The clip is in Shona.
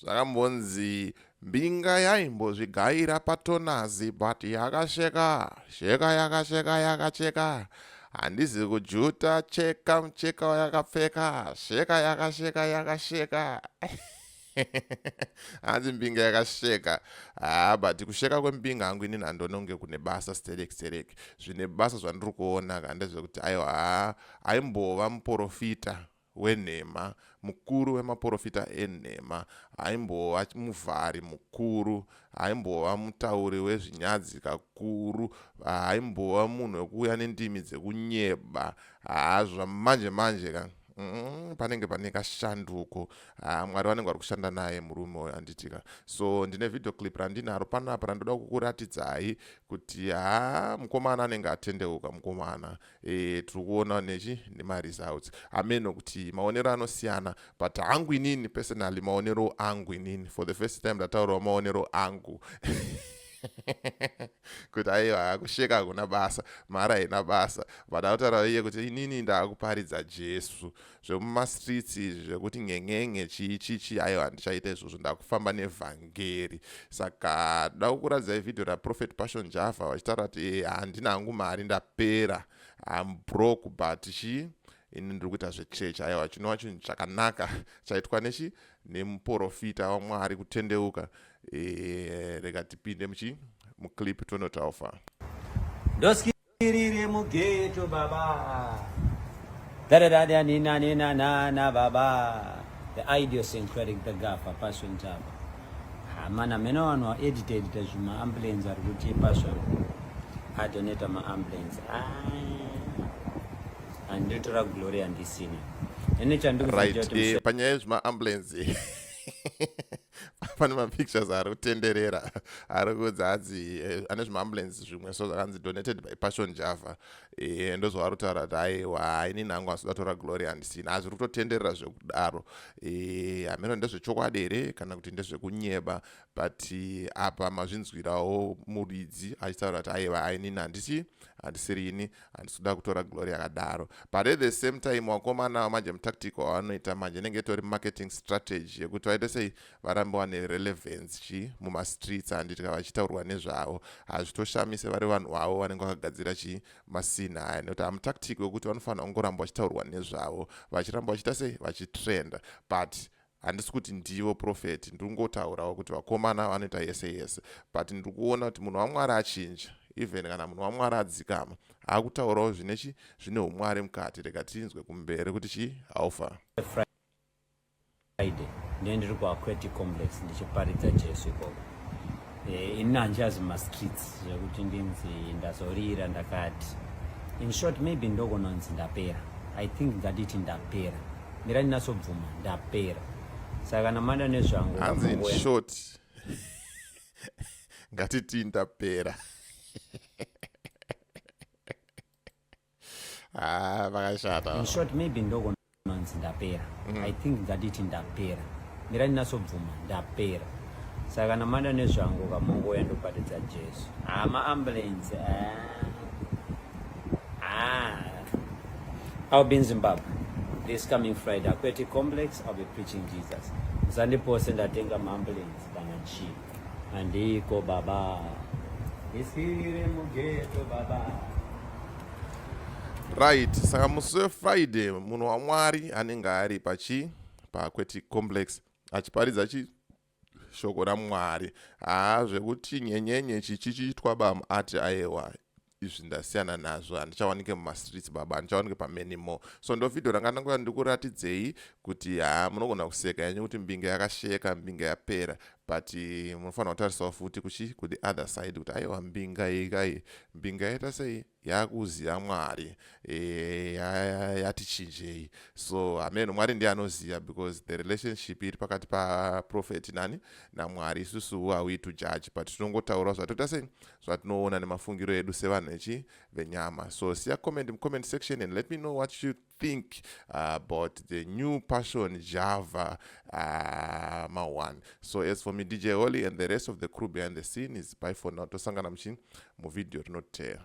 Zvakambonzi mbinga yaimbozvigaira patonazi but yakasheka sheka yakasheka yakacheka handizi kujuta cheka mucheka wayakapfeka sheka yakasheka yakasheka hanzi mbinga yakasheka haa but kusheka kwembinga hangu inini handononge kune basa sterek sterek zvine basa zvandiri kuona ka ndezvekuti aiwa haa aimbova muporofita wenhema, mukuru wemaporofita enhema, aimbova muvhari mukuru, aimbova mutauri wezvinyadzi kakuru, aimbova munhu wekuuya nendimi dzekunyeba. Haa zvamanje manje ka mm, panenge pane kashanduko. Haa Mwari vanenge vari kushanda naye murume uyo anditi ka. So ndine video clip randinaro panapa randoda kukuratidzai kuti haa mukomana anenge atendeuka mukomana. e, tiri kuona nechi nemaresults hameno kuti maonero anosiyana but hangu inini personally maonero angu inini for the first time ndataurawo maonero angu kuti aiwa akusheka hakuna basa mhara haina basa but akutaura iye kuti inini ndaakuparidza jesu zvemumastreets izvi zvekuti ngen'en'e chii chii chii aiwa handichaita izvozvo ndakufamba nevhangeri saka da kukuratidzai vhidhiyo raprofet passion java vachitaura kuti e eh, handina hangu mari ndapera am broke but chii ini ndiri kuita zvechechi aiwa chinova chinhu chakanaka chaitwa nechi nemuprofita wamwari kutendeuka e, rega tipinde muchi muclip tonotaufaa Tirire mugeto baba. Dararada nina nina nana baba. The idiosyncratic the gafa passion java. Amana mena vanhu wa edit edita zvima ambulance ari kuti passion. Adoneta ma ambulance. Ah. Anditora glory andisina. Ene chandikuziva kuti. Right, eh, panyaya zvima ambulance. pane mapictures ari kutenderera ari kuudza hanzi eh, ane zvimaambulance zvimwe so zvakanzi donated by passion java eh, ndozvavari kutaura kuti aiwa haini nangu asi datora glory handisina hazviri kutotenderera zvekudaro eh, hameno ndezvechokwadi here kana kuti ndezvekunyeba but apa mazvinzwirawo muridzi achitaura kuti aiwa hainini handisi handisiri ini handisi kuda kutora glory yakadaro but at the same time wakomana wamanje mutactical wavanoita manje inenge itori marketing strategy yekuti vaite sei varambe wane relevance chii mumastreets handiti ka vachitaurwa nezvavo hazvitoshamise vari vanhu wavo vanenge vakagadzira chii masina aya nekuti hamutactic wekuti vanofanira kungoramba vachitaurwa nezvavo vachiramba vachiita sei vachitrenda but handisi kuti ndivo profeti ndiri kungotaurawo kuti vakomana vanoita yese yese but ndiri kuona kuti munhu wamwari achinja even kana munhu wamwari adzikama akutaurawo zvine chi zvine umwari mukati rega tinzwe kumberi kuti chi alpha friday ndendiri kuaqueti complex ndichiparidza jesu ikoko Eh, ini handichazi mumastreets zvekuti ndinzi ndazorira ndakati in short maybe ndokunonzi ndapera i think ngatiti ndapera mira ndinasobvuma ndapera saka kana mada nezvangu hanzi in short ngatiti ndapera Ah, vakashata. In short maybe ndoko nonzi ndapera. Mm. I think ngatiti ndapera. Mira ndinasobvuma ndapera. Saka kana mada nezvangu kamongo ya ndopatidza Jesu. Ah, ma ambulance. Ah. Ah. I'll be in Zimbabwe this coming Friday. Aquatic Complex, I'll be preaching Jesus. Zandipose ndatenga ma ambulance kana chii. Andiko baba. Isirire mugeto baba. Right, saka musi weFriday munhu waMwari anenge ari pachi pakweti complex achiparidza chi shoko raMwari. Haa zvekuti nyenyenye chichichitwa bamu ati ayewa izvi ndasiyana nazvo handichawanike mumastreets baba handichawanike pamenimo so ndo vhidhio ranga ndangoya ndikuratidzei kuti haa munogona kuseka yanyu kuti mbinge yakasheka mbinge yapera but eh, munofanira kutarisawo futi kuchi kuti other side kuti aiwa mbinga iyi kai mbinga yaita sei yakuziva mwari eh, yati chinjei so hameno mwari ndiye anoziva because the relationship iri pakati paprofeti nani namwari isusu who are we to judge but tinongotaurawo zvatoita sei zvatinoona nemafungiro edu sevanhu echi venyama so siya comment mucomment section and let me know what you think uh, about the new passion java uh, ma one so as for me dj holy and the rest of the crew behind the scene is by for now tosangana muchini muvideo rinoteera